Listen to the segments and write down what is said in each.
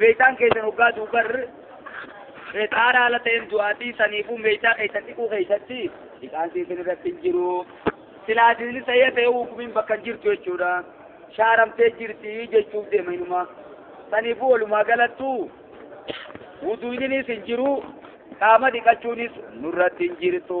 Meeshaan keessan hoggaa duubar xaaraa ala ta'een du'aatii saniifuu meeshaa keessan dhiquu keessatti dhiqaan isin irratti hin jiru. Silaa isin ta'ee ta'ee hukumiin bakka hin jirtu jechuudha. Shaaramtee jirti jechuuf deema inuma. Saniifuu walumaa galattu wuduuninis hin jiru qaama dhiqachuunis nurratti hin jirtu.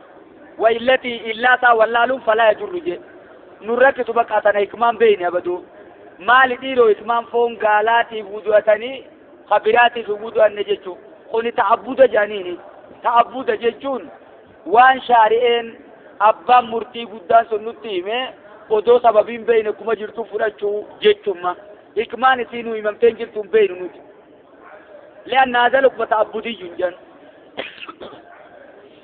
wa illati illaa isaa wallaaluun falaa yajurru jee nun rakkisu bakka tana hikmaan beeyne abaduu maali dhiiroo hikmaan foon gaalaatiif wudu'atanii ka biraatiif hin wudu'anne jechuu kuni ta'abbuda jedhaniini ta'abbuda jechuun waan shaari'een abbaan murtii guddaan sun nutti hime odoo sababiin beeyne kuma jirtu fudhachuu jechumma hikmaan isii nu himamteen jirtuun beeynu nuti li'anna hadha lukma ta'abbudiyyun jedhan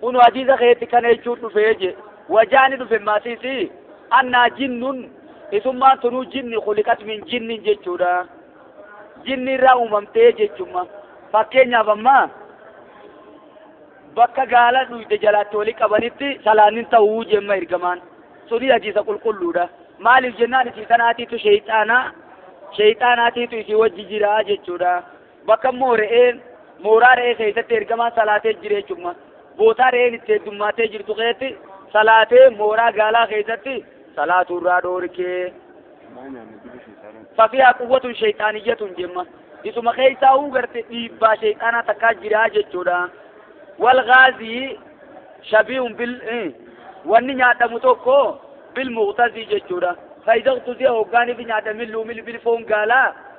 Kunu hadiisa keetti kana jechuun dhufee je wajaani dhufe maasiisi annaa jinnun isummaan tunuu jinni kuliqat min jinnin jechuudha. Jinni irraa uumamtee jechumma. Fakkeenyaaf ammaa bakka gaala dhuyde jalaatti wali qabanitti salaanin ta'uu jemma ergamaan. Suni hadiisa qulqulluudha. Maaliif jennaan isii tanaatiitu sheeyxaanaa sheeyxaanaatiitu isii wajji jiraa jechuudha. Bakka immoo re'een mooraa re'ee keessatti ergamaan salaatee jire jechuudha. Bootaa re'een itti heddummaatee jirtu keessatti salaatee mooraa gaalaa keessatti salaatuu irraa dhoorkee. Fafiyaa quwwatun sheexaaniyyatun jemma. Isuma keessaa huu garte dhiibbaa sheexaanaa takkaa jiraa jechuudha. Wal gaazii shabiihun bil wanni nyaadhamu tokko bil muqtazii jechuudha. Faayidaan tusiya hoggaaniif nyaadhamin luumil bil foon gaalaa.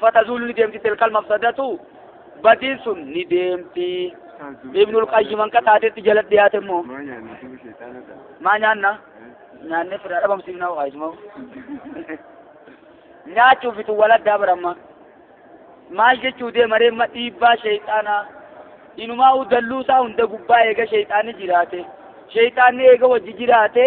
fatazuulu ni deemti tilkal mafsadatu badiin sun ni deemti ibnul qayyim hanqa taatetti jala dhiyaate immoo maa nyaanna nyaannee fira dhabamsiifna waayisuma nyaachuuf itu waladdaa baramma maal jechuu deemaree ma dhiibbaa sheeyxaanaa inumaa u dalluusaa hunda gubbaa eega sheeyxaanni jiraate sheeyxaanni eega wajji jiraate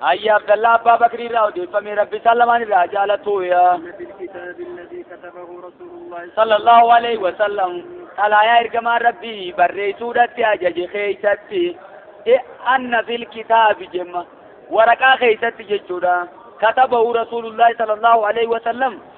Hayyi Abdallaa Abbaa Bakrii irraa odeeffame Rabbi isaan lamaan irraa jaalatu yaa. Sallallahu alaihi wa sallam xalaayaa ergamaa Rabbii barreessuudhatti ajaje keessatti e anna fil kitaabi jemma waraqaa keessatti jechuudha katabahu Rasuulullaahi sallallahu alaihi wa sallam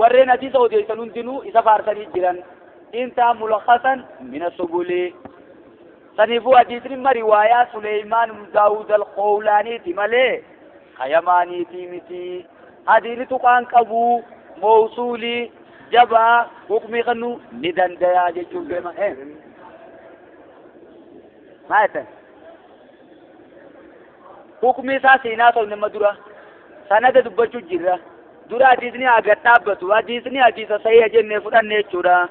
warreen hadiisa odeessan hundinuu isa faarsanii jiran intaa mulakhasan min asubuli saniifuu hadiisni ma riwaayaa suleymaan ibnu daawud alqowlaaniiti malee kayamaaniitii miti hadiini tuqaan qabuu mawsuulii jabaa hukmii kennu ni dandayaa jechuun beema maa jettan Hukmi isaa siin haasofne ma dura. Sanada dubbachu jirra. Dura hadiisni haa gad dhaabbatu. Hadiisni hadiisa sahiha jenne fudhanne jechuudha.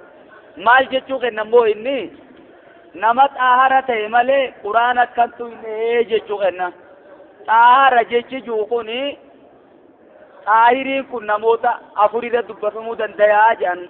Maal jechuu kenna immoo inni nama xaahara ta'e malee quraan akkantu hin dhahee jechuu kenna. Xaahara jechi jiru kun xaahiriin kun namoota afurirra dubbatamuu dandayaa jedhan.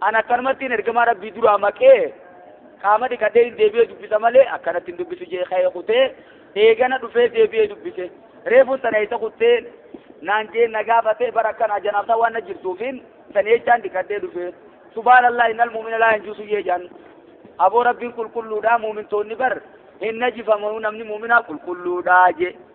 An akkanumattiin ergamaa rabbii duraa maqee qaama dhiqadhee hin deebi'ee dubbisa malee akkanatti hin dubbisu jee ka'ee kutee eegana dhufee deebi'ee dubbise reefun sana isa kuttee naan jee na gaafatee bara akkanaa janaabtaa waan na jirtuufiin san jechaan dhiqadhee dhufe subhaanallah innal mu'mina laa yanjusu jee jaan aboo rabbiin qulqulluudhaa muumintoonni bar hin najifamu namni muuminaa qulqulluudhaa jee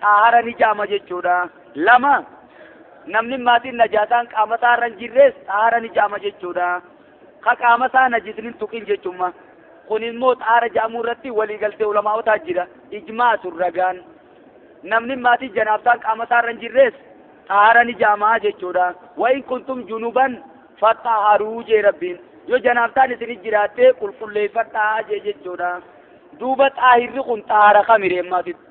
xaahara ni jaama jechuudha. Lama namni maatiin najaasaan qaama isaa irra hin jirres xaahara ni jaama jechuudha. Ka qaama isaa najisni hin tuqin jechumma. Kun immoo xaahara jaamuu irratti waliigaltee ulamaa'otaa jira. Ijmaatu ragaan. Namni maatii janaabsaan qaama isaa irra hin jirres xaahara ni jaamaa jechuudha. Wa in kuntum junuban faxaharuu jee rabbiin. Yoo janaabsaan isin jiraattee qulqulleeffadhaa jee jechuudha. Duuba xaahirri kun xaahara kamiree maatitti.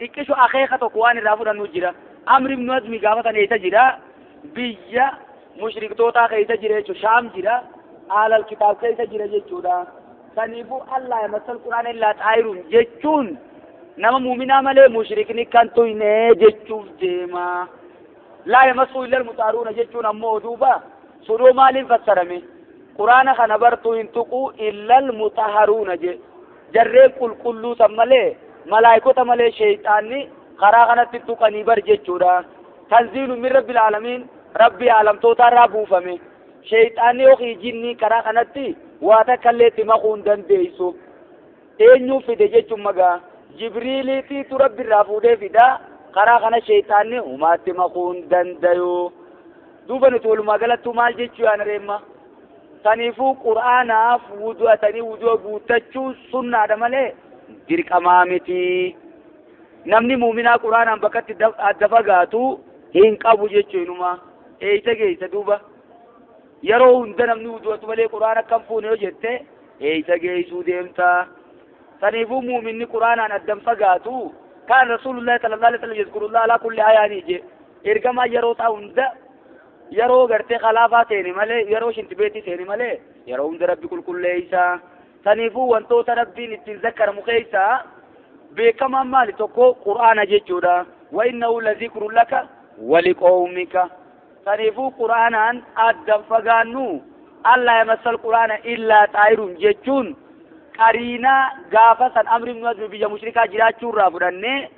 Xiqqisho akeeka tokko waan irraa fudhannu jira. Amr ibn Hazmi gaafa san eessa jira? Biyya mushriktootaa keessa jira jechuudha. Shaam jira. Aalal kitaab keessa jira jechuudha. Saniifuu Allah yamassal Qur'aan illaa xaayiruun jechuun nama muuminaa malee mushrikni kan tuyne jechuuf deema. Laa yamassuu illal muxaaruuna jechuun ammoo duuba sudoo maaliin fassarame? Qur'aana kana bartuu hin tuquu illal muxaharuuna jee. Jarreen qulqulluu san malee malaaykota malee sheyxaanni karaa kanatti tuqanii bar jechuudha. Tanziilu min rabbil aalamiin rabbii aalamtootaarraa buufame. Sheyxaanni yookiin jinnii karaa kanatti waa takkallee itti makuu hin dandeeysu. Eenyuu fide jechuun magaa jibriiliitiitu rabbirraa fuudhee fidaa karaa kana sheyxaanni humaatti makuu hin dandayu. Duuba nuti walumaa galattuu maal jechuu yaana reemma? Saniifuu qur'aanaaf wudu'atanii wudu'a guuttachuun sunnaadha malee dirqamaa miti. Namni muuminaa qur'aanaan bakkatti adda fagaatu hin qabu jechuun inumaa eeysa geeysa duuba. Yeroo hunda namni wudu'atu malee qur'aan akka hin fuune yoo jette eeysa geeysuu deemta. Saniifuu muuminni qur'aanaan adda hin fagaatu kaan rasuulullaahi sallallahu alaihi wasallam yadkurullaah alaa kulli ayaanii je ergamaa yeroo isaa hunda Yeroo gartee kalaafaa seene malee, yeroo shintibeetii seene malee, yeroo hunda Rabbi qulqulleeysa. Saniifuu wantoota Rabbiin ittiin zakkaramu keeysaa beekamaan maali tokko Qur'aana jechuudha. Wa innahu lazikrun laka waliqoomika. Saniifuu Qur'aanaan addan fagaannu Allah yamassal Qur'aana illaa xaayirun jechuun qariinaa gaafa san amri ibnu azmi biyya mushrikaa jiraachuu irraa fudhannee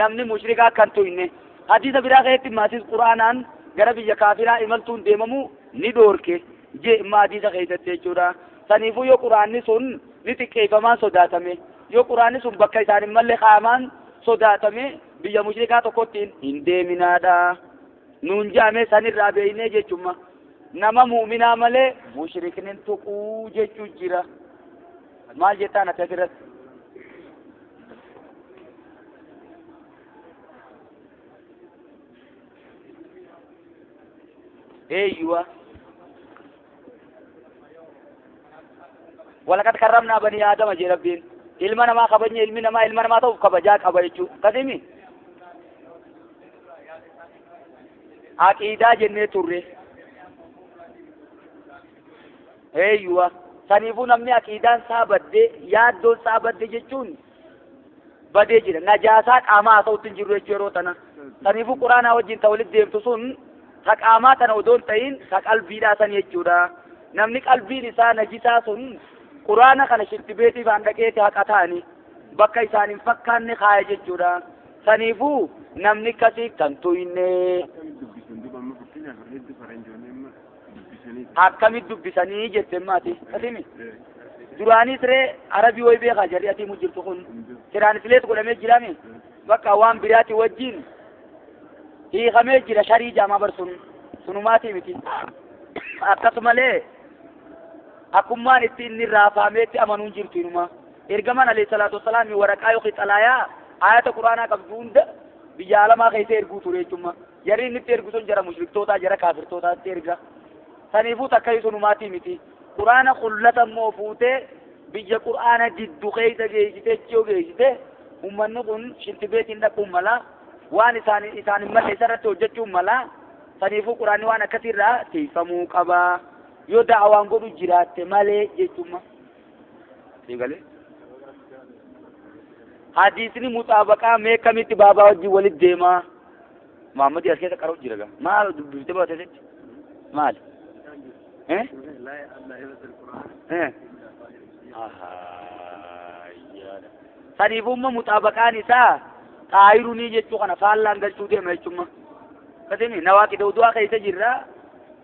namni mushrikaa akka hin tuyne hadiisa biraa keessatti maatis quraanaan gara biyya kaafiraa imaltuun deemamu ni dhoorke jee imma hadiisa keessatti jechuudha saniifuu yoo quraanni sun ni xiqqeeffamaan sodaatame yoo quraanni sun bakka isaan hin malle qaamaan sodaatame biyya mushrikaa tokkotti hin deeminaadha nuun jaamee sanirraa beeynee jechumma nama muuminaa malee mushriknin tuquu jechuu jira maal jettaan ati asirratti eeyyuwa walaqad karramnaa banii aadama jee rabbiin ilma namaa kabajne ilmi namaa ilma namaa ta'uuf kabajaa qaba jechuu kadhimi aqiidaa jennee turre Eeyyuwa, saniifuu namni aqiidaan isaa badde, yaaddoon isaa badde jechuun badee jira. Najaasaa qaamaa haa ta'utti hin jirru jechuu yeroo tana. Saniifuu quraanaa wajjin ta walitti deemtu sun ta qaamaa tana odoo hin ta'in ta qalbiidhaa san jechuudha. Namni qalbiin isaa najisaa sun quraana kana shirtibeetii faan dhaqeeti haqa ta'ani bakka isaan hin fakkaanne kaaya jechuudha. Saniifuu namni akkasii kan tuyne. akkamit dubbisanii jette maati kasimi duraanii siree arabii way beekaa jarri atii mujjirtu kun siraan sileet godhamee jirame bakka waan biraati wajjiin hiikamee jira sharii jaamaa bar sun sunumaatii miti akkasumalee akkummaan itti inni raafameetti amanuun jirtu inuma ergamaan alayhi salaatu wasalaam waraqaa yookiin xalaayaa ayata quraanaa qabdu hunda biyya alamaa keessa erguu ture jechuudha Jarri inni itti ergu sun jara mushriktootaa, jara kaafirtootaatti erga. Saniifuu takkayu sunumaatii miti. Qur'aana kullata immoo fuutee biyya Qur'aana diddu keessa geessitee achi yoo geessite ummanni kun shinti beetiin dhaquun mala waan isaan isaan hin malle isarratti hojjechuun mala. Saniifuu Qur'aanni waan akkasiirraa tiifamuu qaba. Yoo da'awaan godhu jiraatte malee jechuun siin galee hadiisni muxaabaqaa mee kamitti baabaa wajjin walit deemaa maammadi as keessa qaroo jira gaa maal dubbifte baate jetti maal eh eh saniifumma muxaabaqaan isaa xaayirunii jechuu kana faallaan galchuu deema jechumma kasini nawaa qidawdu'aa keessa jirra